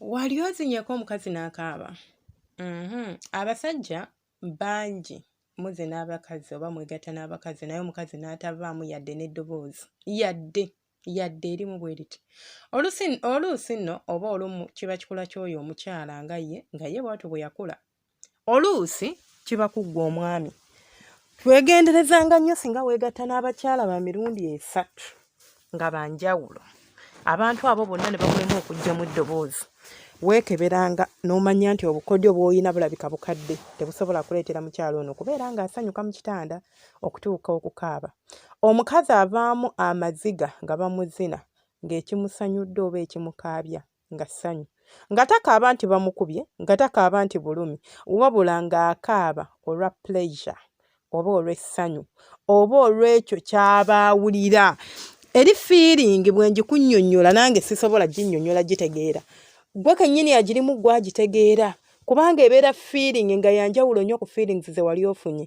wali ozinyeko omukazi n'akaaba mhm. abasajja bangi muze n'abakazi oba mwegatta n'abakazi naye omukazi n'atavaamu yadde n'eddoboozi yadde yadde erimu bwe liti oluusi nno oba olumu kiba kikula ky'oyo omukyala nga ye nga ye bwatyo bwe yakula oluusi kiba kuggwa omwami twegenderezanga nnyo singa weegatta n'abakyala ba mirundi esatu nga banjawulo abantu abo bonna ne bakulema okujjamu eddoboozi weekeberanga n'omanya nti obukodyo bw'olina bulabika bukadde tebusobola kuleetera mukyalo ono kubeera ng'asanyuka mu kitanda okutuuka okukaaba omukazi avaamu amaziga nga bamuzina ng'ekimusanyudde oba ekimukaabya nga ssanyu nga takaaba nti bamukubye nga takaaba nti bulumi wabula ng'akaaba olwa pleasure oba olw'essanyu oba olw'ekyo ky'aba awulira eri fiiringi bwe ngikunnyonnyola nange sisobola ginnyonnyola gitegeera gwe kennyini agirimu gwe agitegeera kubanga ebeera fiiringi nga yanjawulo nnyo ku fiiringi ze wali ofunye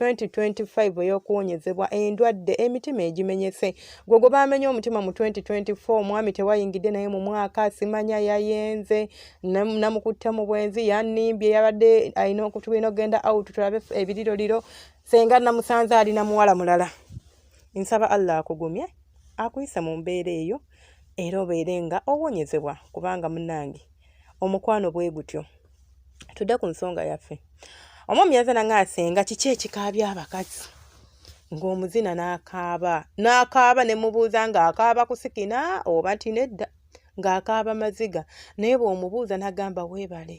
2025 ey'okuwonyezebwa endwadde emitima egimenyese gwe gwe baamenye omutima mu 2024 omwami tewayingidde naye mu mwaka simanya yayenze namukutte mu bwenzi yanimbye yabadde alina okutulina okugenda out tulabe ebiriroliro senga namusanze ali na muwala mulala nsaba allah akugumye akuyise mu mbeera eyo era obeere nga owonyezebwa kubanga munange omukwano bwe gutyo tudde ku nsonga yaffe omwami yaza nanga asenga kiki ekikaabya abakazi ng'omuzina n'akaaba n'akaaba ne mubuuza ng'akaaba kusikina oba nti nedda ng'akaaba maziga naye bw'omubuuza n'agamba weebale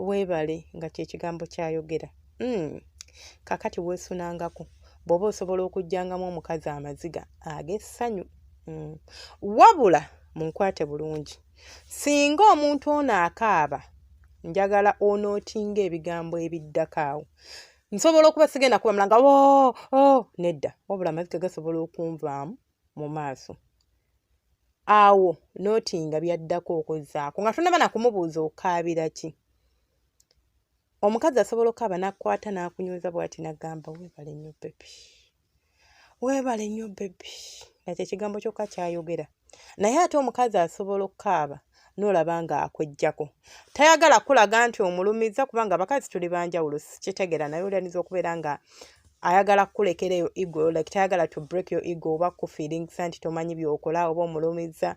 weebale nga kyekigambo kyayogera hmm. kakati weesunangako bw'oba osobola okugyangamu omukazi amaziga ag'essanyu hmm. wabula munkwate bulungi Singa omuntu ono akaaba, njagala onootinga ebigambo ebiddako awo. Nsobola okuba sigenda kubamula nga oo oh, oo oh, nedda, wabula amaziga gasobola okunvaamu mu maaso. Awo nootinga byaddako okuzzaako nga tonaba na kumubuuza okaabira ki. Omukazi asobola okukaaba n'akukwata n'akunyweza bw'ati n'agamba weebale nnyo bbebi. weebale nnyo bebi nakyo ekigambo kyokka kyayogera naye ate omukazi asobola okukaaba n'olaba ng'akwejjako tayagala kulaga nti omulumizza kubanga abakazi tuli banjawulo sikitegera naye olyanyiza okubeera nga ayagala kukulekera eyo ego like tayagala to break your ego oba kufiiringisa nti tomanyi byokola oba omulumizza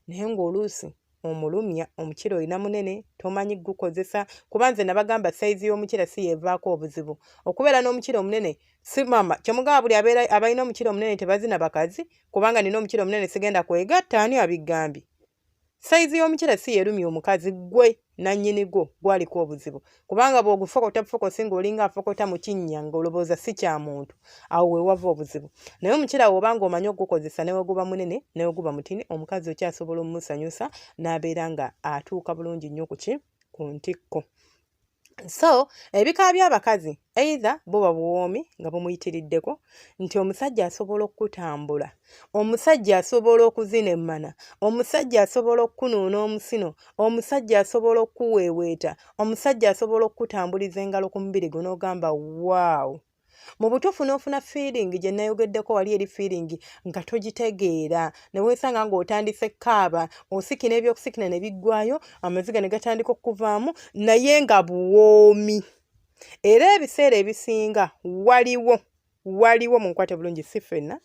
naye ng'oluusi omulumya omukira olina munene tomanyi gukozesa kuba nze nabagamba sayizi y'omukira si yevaako obuzibu okubeera n'omukira omunene si mama kyemugamba buli abeera abalina omukira omunene tebazina bakazi kubanga nina omukira omunene sigenda kwegatta ani abigambye sayizi y'omukira si yerumya omukazi gwe nanyini gwo gwaliko obuzibu kubanga bw'ogufokota bufokosi ng'olinga afokota mu kinnya ng'olowooza si kya muntu awo we wava obuzibu naye omukyera woba ng'omanyi okugukozesa ne weguba munene ne weguba mutini omukazi okyasobola omumusanyusa n'abeera nga atuuka bulungi nnyo ku ki ku ntikko so ebika by'abakazi either buba buwoomi nga bumuyitiriddeko nti omusajja asobola okukutambula omusajja asobola okuzina emmana omusajja asobola okukunuuna omusino omusajja asobola okukuweeweeta omusajja asobola okukutambuliza engalo ku mubiri gwe n'ogamba waawo mu butuufu n'ofuna fiiringi gye nayogeddeko wali eri fiiringi nga togitegeera ne weesanga ng'otandise kaaba osikina ebyokusikina ne biggwayo amaziga ne gatandika okuvaamu naye nga buwoomi era ebiseera ebisinga waliwo waliwo munkwate bulungi si fenna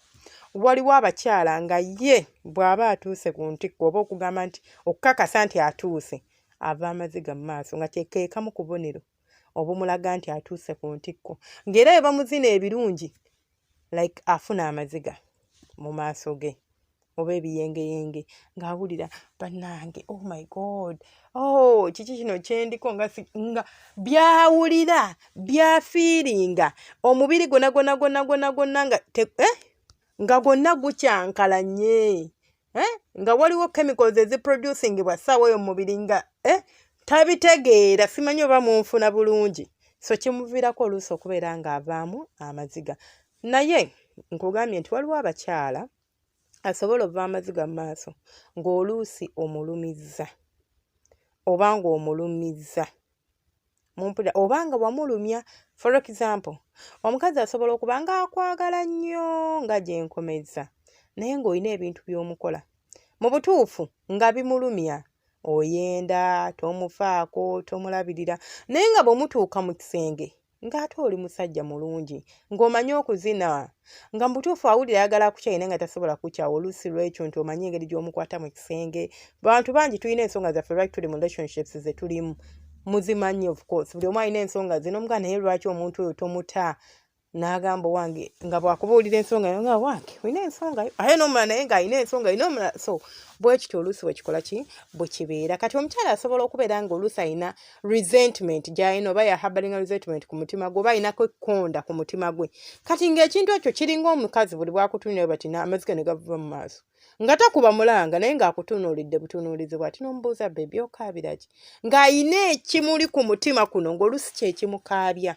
waliwo abakyala nga ye bw'aba atuuse ku ntikko oba okugamba nti okukakasa nti atuuse ava amaziga mu maaso nga kyekekamu kubonero obumulaga nti atuuse ku ntikko ng'era bwe bamuzina ebirungi like afuna amaziga mu maaso ge oba ebiyengeyenge ng'awulira bannange oh my god oh kiki kino kyendiko nga nga byawulira byafiiringa omubiri gona gona gona gona gona nga eh? nga gonna gukyankalanye eh? nga waliwo chemicals eziproducingibwa ssaawa oyo mumubiri nga eh? tabitegeera simanyi oba munfuna bulungi so kimuviirako oluusi okubeera ng'avaamu amaziga naye nkugambye nti waliwo abakyala asobola ova amaziga mu maaso ng'oluusi omulumizza oba ng'omulumizza mumpulira oba nga wamulumya for example omukazi asobola okuba ng'akwagala nnyo nga gye nkomezza naye ng'olina ebintu by'omukola mu butuufu nga bimulumya oyenda tomufaako tomulabirira naye nga bwe mutuuka mu kisenge ng'ate oli musajja mulungi ng'omanyi okuzina nga mu butuufu awulira ayagala akukyaye naye nga tasobola kukyawa oluusi lwekyo nti omanyi engeri gy'omukwata mu kisenge bantu bangi tulina ensonga zaffe lwaki tuli mu relationships ze tulimu muzimanyi of course buli omu alina ensonga ze nomuga naye lwaki omuntu oyo tomuta n'agamba owange nga bwakubuulira ensonga yo nga wange olina ensonga yo aye nomula naye ng'alina ensonga yo nomula so bwekityo oluusi bwekikola ki bwekibeera kati omukyala asobola okubeera nga oluusi alina resentment gyalina oba yahabalinga resentment ku mutima gwe oba alinako ekkonda ku mutima gwe kati ng'ekintu ekyo kiringa omukazi buli bwakutunulira bati amazike ne gavuba mu maaso nga takuba mulanga naye ng'akutunuulidde butunuulizi bwati n'omubuuza bebi okaabira ki ng'alina ekimuli ku mutima kuno ng'olusi kyekimukaabya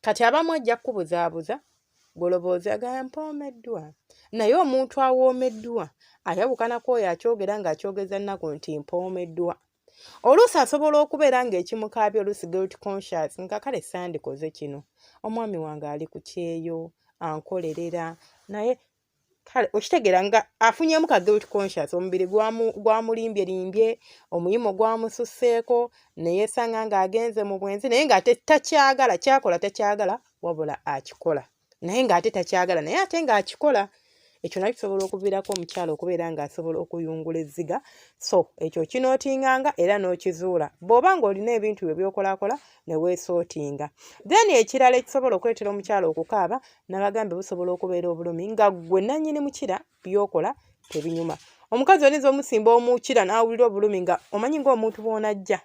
kati abamu ajja kukubuzaabuza goloboozi agaya mpoomeddwa naye omuntu awoomeddwa ayawukanako oyo akyogera ng'akyogeza nnaku nti mpoomeddwa oluusi asobola okubeera ng'ekimukaabya oluusi guilt conscious nga kale sandikoze kino omwami wange ali ku kyeyo ankolerera naye kale okitegeera nga afunyemu ka guilt conscious omubiri gwamulimbye limbye omuyimo gwamususeeko neyesanga ng'agenze mu bwenzi naye ng'ate takyagala kyakola takyagala wabula akikola naye ng'ate takyagala naye ate ng'akikola ekyo nakyo kisobola okuviirako omukyala okubeera ng'asobola okuyungula ezziga so ekyo kinootinganga era n'okizuula bw'oba ng'olina ebintu byo byokolakola ne weesootinga then ekirala ekisobola okuleetera omukyala okukaaba nabagambe busobola okubeera obulumi nga ggwe nannyini mukira byokola tebinyuma omukazi oyinza omusimba omukira n'awulira obulumi nga omanyi ng'omuntu bw'onajja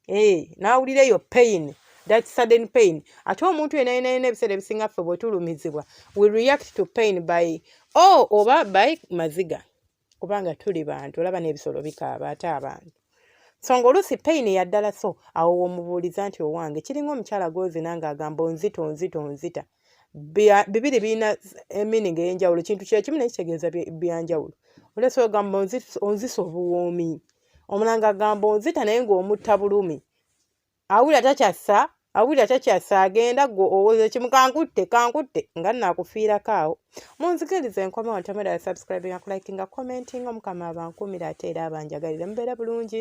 eh, n'awulira eyo pain that sudden pain ate omuntu yena yena yena ebiseera ebisinga ffe bwetulumizibwa we react to pain by o oh, oba by maziga kubanga tuli bantu olaba n'ebisolo bikaaba ate abantu so nga oluusi pain yaddala so awo womubuuliza nti owange kiringa omukyala gwozina nga agamba onzita onzita onzita bibiri birina emining eyenjawulo kintu kyekimu naye kitegeeza byanjawulo olesa ogamba onzisa obuwoomi omulanga agamba onzita naye ng'omutta bulumi awulira takyassa awulira takyassa agenda gwe owoza ekimu kankutte kankutte nga naakufiirako awo munzikiriza enkomawo ntamera ya subscribinga kulikinga commentinga omukama abankuumira ate era abanjagalire mubeere bulungi